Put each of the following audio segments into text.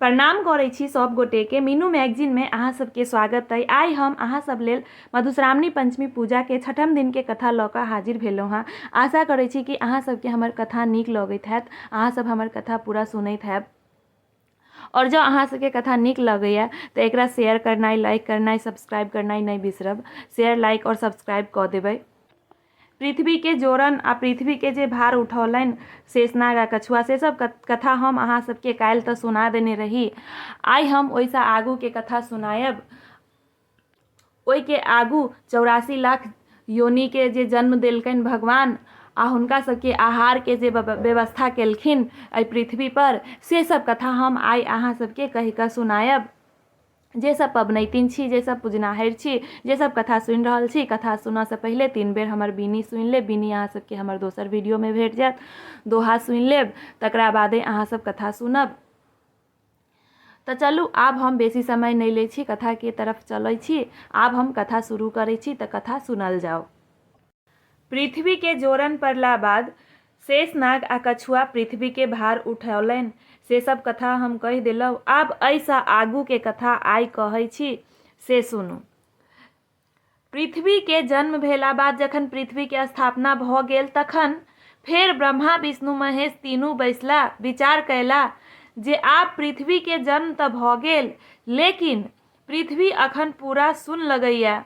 प्रणाम करै छी सब गोटे के मीनू मैगजीन में अहाँ सबके स्वागत अइ आइ हम अहाँ सब लेल मधुश्रावणी पंचमी पूजा के छठम दिन के कथा लऽ कऽ हाजिर भेलहुँ हँ आशा करै छी कि अहाँ सबके हमर कथा नीक लगैत हैत अहाँ सब हमर कथा पूरा सुनैत हैब और जँ अहाँ सबके कथा नीक लगैए तऽ एकरा शेयर करनाइ लाइक करनाइ सब्सक्राइब करनाइ नहि बिसरब शेयर लाइक और सब्सक्राइब कऽ देबै पृथ्वी के जोड़न आ पृथ्वी के जे भार उठौलनि शेषनाग आ कछुआ से सब कथा हम अहाँ सबके काल्हि तऽ सुना देने रही आइ हम ओहिसँ आगू के कथा सुनायब ओहि के आगू चौरासी लाख योनि के जे जन्म देलकनि भगवान आ हुनका सबके आहार के जे व्यवस्था केलखिन एहि पृथ्वी पर से सब कथा हम आइ अहाँ सबके कहि कऽ सुनायब जे सब पबनैतिन छी जे सब पुजनाहैर छी जे सब कथा सुनि रहल छी कथा सुनऽसँ पहिले तीन बेर हमर बीनी सुनि लेब बीनी अहाँ सबके हमर दोसर वीडियोमे भेट जायत दोहा सुनि लेब तकरा बादे अहाँ सब कथा सुनब तऽ चलू आब हम बेसी समय नहि लै छी कथाके तरफ चलै छी आब हम कथा शुरू करै छी तऽ कथा सुनल जाउ पृथ्वी के जोरन पड़ला बाद शेष नाग आ कछुआ पृथ्वी के भार उठौलैन। से सब कथा हम कहि देलौं। आब अइ सँ आगू के कथा आइ कहै छी से सुनू। पृथ्वी के जन्म भेला बाद जखन पृथ्वी के स्थापना भऽ गेल तखन फेर ब्रह्मा, विष्णु, महेश तीनू बैसला। विचार कयला जे आब पृथ्वी के जन्म तऽ भऽ गेल लेकिन पृथ्वी अखन पूरा सुन्न लगैए।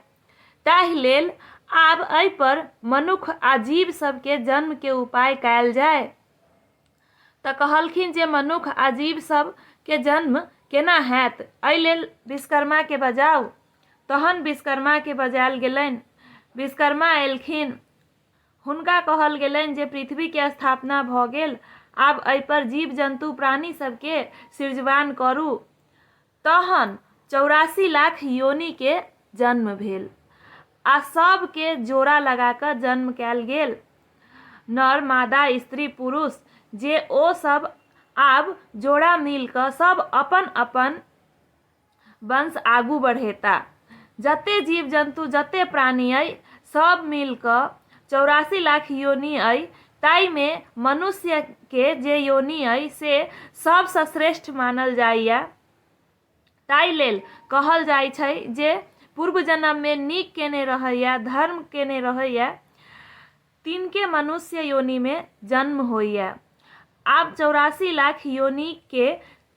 ताहि लेल आब एहि पर मनुख आ जीव सब के जन्म के उपाय कायल जाय। त कहलखिन जे मनुख आ जीव सब के जन्म केना हएत? एहि लेल विश्वकर्मा के बजाउ। तहन विश्वकर्मा के बजायल गेलनि। विश्वकर्मा अयलखिन। हुनका कहल गेलनि जे पृथ्वी के स्थापना भ गेल। आब एहि पर जीव-जन्तु, प्राणी सब के सृजवान करू। तहन चौरासी लाख योनि के जन्म भेल आ सब के जोड़ा लगा कऽ जन्म कएल गेल। नर, मादा, स्त्री, पुरुष जे ओ सब आब जोड़ा मिल कऽ सब अपन-अपन वंश आगू बढ़ेता। जते जीव-जन्तु, जते प्राणी अइ सब मिल कऽ चौरासी लाख योनि अइ ताहिमे मनुष्यके जे योनि अइ से सभसँ श्रेष्ठ मानल जाइए ताहि लेल कहल जाइ छै जे पूर्व जन्ममे नीक केने रहैए धर्म केने रहैए तिनके मनुष्य योनिमे जन्म होइए आब चौरासी लाख योनिके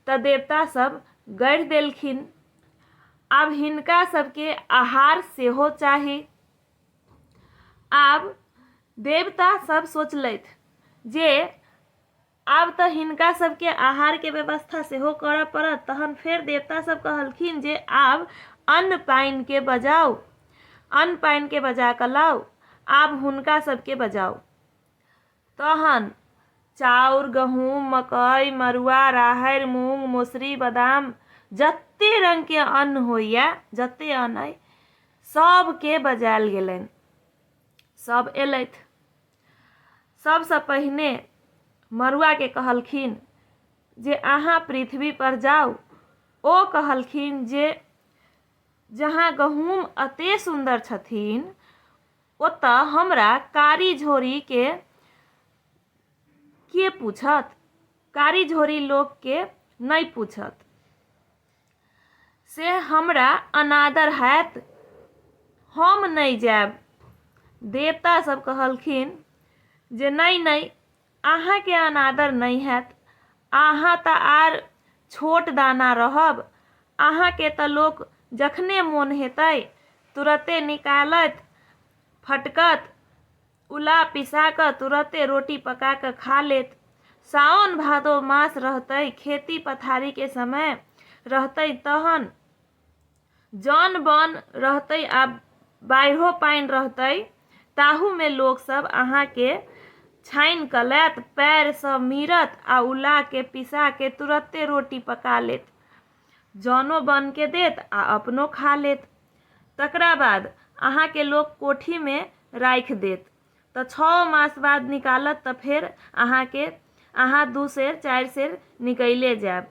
तऽ देवतासभ गढ़ि देलखिन आब हिनका सभके आहार सेहो चाही आब देवता सब सोचलथि जे आब तऽ हिनका सबके आहारके व्यवस्था सेहो करऽ पड़त तहन फेर देवता सब कहलखिन जे आब अन्न पानिके बजाउ अन्न पानिके बजा कऽ लाउ आब हुनका सबके बजाउ तहन चाउर गहूम मकइ मड़ुआ राहरि मूँग मौसरी बादाम जतेक रङ्गके अन्न होइए जतेक अन्न अइ सभके बजायल गेलनि सभ एलथि सभसँ पहिने मड़ुआके कहलखिन जे अहाँ पृथ्वीपर जाउ ओ कहलखिन जे जहाँ गहूम एतेक सुन्दर छथिन ओतय हमरा कारी झोरी के के पूछत? कारी झोरी लोक के नहि पूछत। से हमरा अनादर हएत। हम नहि जाएब। देवता सब कहलखिन जे नहि नहि अहाँकेँ अनादर नहि हएत। अहाँ तँ आर छोट दाना रहब। अहाँकेँ तँ लोक जखने मोन हेतै तुरते निकालत, फटकत। उला पिसा कऽ तुरते रोटी पका कऽ खा लेत। साओन-भादो मास रहतै, खेती-पथारीक समय रहतै तहन। जन बन रहतै आ बाढ़िओ पानि रहतै ताहूमे लोकसभ अहाँके छानि कऽ लैत पएरसँ मीरत आ उलाके पिसाके तुरते रोटी पका लेत जनो बनके देत आ अपनो खा लेत तकरा बाद अहाँके लोक कोठीमे राखि देत तऽ छओ मास बाद निकालत तऽ फेर अहाँके अहाँ दू सेर चारि सेर निकैले जायब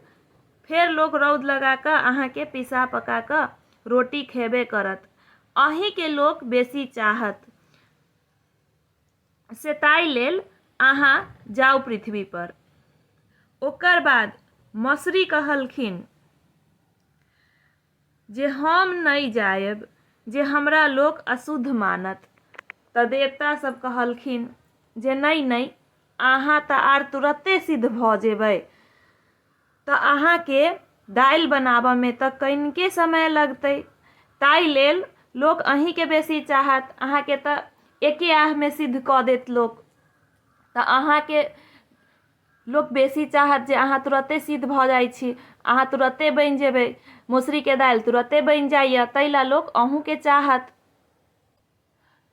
फेर लोक रौद लगा कऽ अहाँके पिसा पका कऽ रोटी खेबे करत अहीँके लोक बेसी चाहत से ताहि लेल अहाँ जाउ पृथ्वीपर ओकर बाद मसरी कहलखिन जे हम नहि जायब जे हमरा लोक अशुद्ध मानत। तऽ देवता सब कहलखिन जे नहि नहि अहाँ तऽ आर तुरते सिद्ध भऽ जेबै। तऽ अहाँ के दालि बनाबऽ में तऽ कनिके समय लगतै। ताहि लेल लोक अहीं के बेसी चाहत। अहाँ के तऽ एके आह में सिद्ध कऽ देत लोक। तऽ अहाँ के लोक बेसी चाहत जे अहाँ तुरते सिद्ध भऽ जाइ छी अहाँ तुरते बनि जेबै मौसरीके दालि तुरते बनि जाइए ताहि लए लोक अहूँके चाहत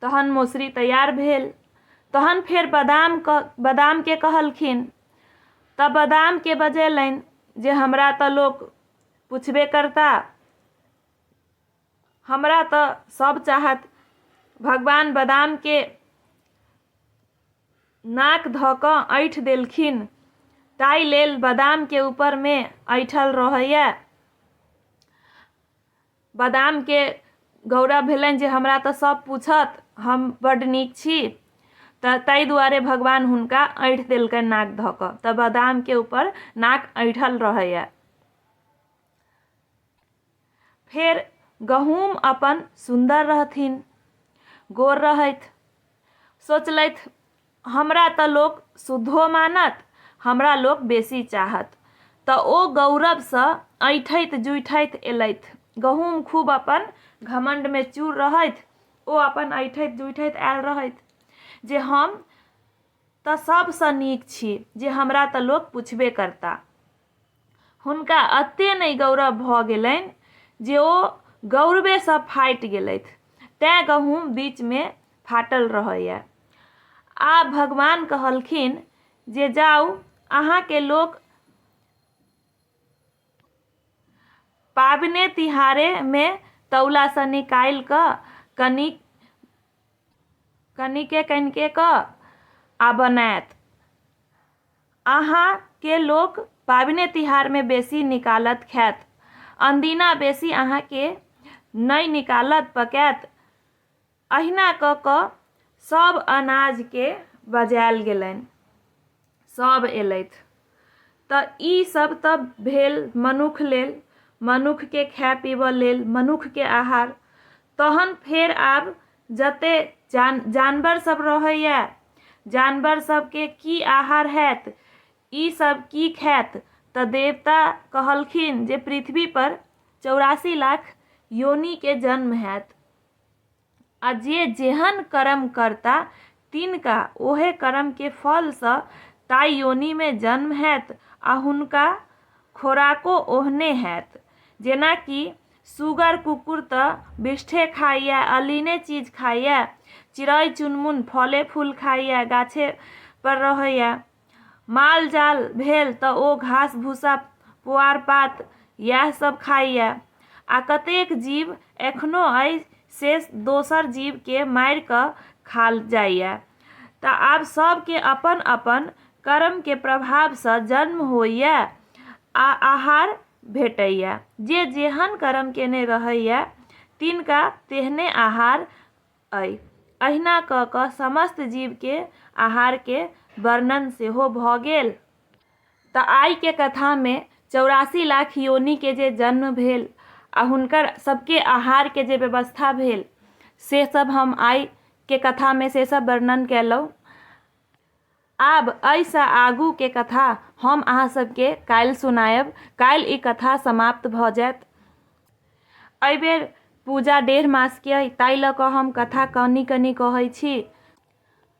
तहन मौसरी तैयार भेल तहन फेर बादाम बादामके कहलखिन तऽ बादामके बजेलनि जे हमरा तऽ लोक पुछबे करता हमरा तऽ सब चाहत भगवान बदामके नाक धऽ कऽ ऐठ देलखिन ताहि लेल बदामके ऊपरमे ऐठल रहैए बदामके गौरव भेलनि जे हमरा तऽ सब पूछत हम बड्ड नीक छी तऽ ताहि दुआरे भगवान हुनका ऐठ देलकनि नाक धऽ कऽ तऽ बदामके ऊपर नाक ऐठल रहैए फेर गहूम अपन सुन्दर रहथिन गोर रहथि सोचलथि हमरा तऽ लोक शुद्धो मानत हमरा लोक बेसी चाहत तऽ ओ गौरवसँ ऐठैत जुठैत एलथि गहूम खूब अपन घमण्डमे चूर रहथि ओ अपन ऐठैत जुठैत आयल रहथि जे हम तऽ सभसँ नीक छी जे हमरा तऽ लोक पुछबे करता हुनका एते नहि गौरव भऽ गेलनि जे ओ गौरवेसँ फाटि गेलथि तैँ गहूँम बीचमे फाटल रहैए आ भगवान कहलखिन जे जाउ अहाँके लोक पाबने तिहारेमे तौलासँ निकालि कऽ कनि कनिके कनिके कऽ आ बनायत अहाँ केँ लोक पाबिने तिहार मे बेसी निकालत खैत। अनदिना बेसी अहाँ केँ नै निकालत पकैत। अहिना कऽ कऽ सब अनाज केँ बजाएल गेलैन। सब एलैथ। तऽ ई सब तऽ भेल मनुख लेल। मनुख केँ खाए पीबऽ लेल। मनुख केँ आहार। तहन फेर आब जते जानवर सब रहैए जानवर सबके की आहार हैत ई सब की खायत तऽ देवता कहलखिन जे पृथ्वी पर चौरासी लाख योनि के जन्म हैत आ जे जेहन कर्म करता तिनका ओहे कर्म के फल से ताई योनि में जन्म हैत आ हुनका खोराको ओहने हैत जेनाकि सुगर कुक्कुर तँ बिष्ठे खाइए, अलिने चीज खाइए। चिड़ै-चुनमुन फले-फूल खाइए, गाछेपर रहैए। माल-जाल भेल तँ ओ घास-भूसा, पोआर-पात यएह सभ खाइए। आ कतेक जीव एखनो अइ से दोसर जीवकेँ मारि कऽ खा जाइए। तँ आब सभकेँ अपन-अपन करमकेँ प्रभावसँ जन्म होइए आ आहार भेटैए। जे जेहन करम केने रहैए तिनका तेहने आहार अइ। अहिना कऽ कऽ समस्त जीवके आहारके वर्णन सेहो भऽ गेल। तँ आइके कथामे चौरासी लाख योनिके जे जन्म भेल आ हुनकर सबके आहारके जे व्यवस्था भेल से सब हम आइके कथामे से सब वर्णन केलहुँ। आब अइ सँ आगू के कथा हम अहाँ सब के काल्हि सुनायब। काल्हि ई कथा समाप्त भ जायत। अइ बेर पूजा डेढ़ मास के अइ ताहि ल क हम कथा कनि-कनि कहै छी।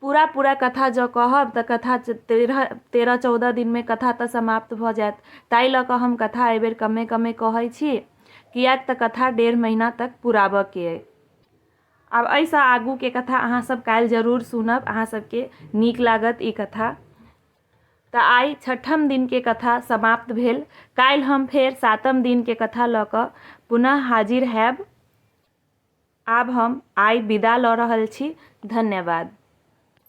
पूरा-पूरा कथा जँ कहब त कथा तेरह तेरह-चौदह दिन मे कथा त समाप्त भ जायत। ताहि ल क हम कथा अइ बेर कमे-कमे कहै छी। कियैक त कथा डेढ़ महीना तक पुराबय के अइ। आब एहिसँ आगूके कथा अहाँसभ काल्हि जरूर सुनब अहाँसभके नीक लागत ई कथा तऽ आइ छठम दिनके कथा समाप्त भेल काल्हि हम फेर सातम दिनके कथा लऽ कऽ पुनः हाजिर हैब आब हम आइ विदा लऽ रहल छी धन्यवाद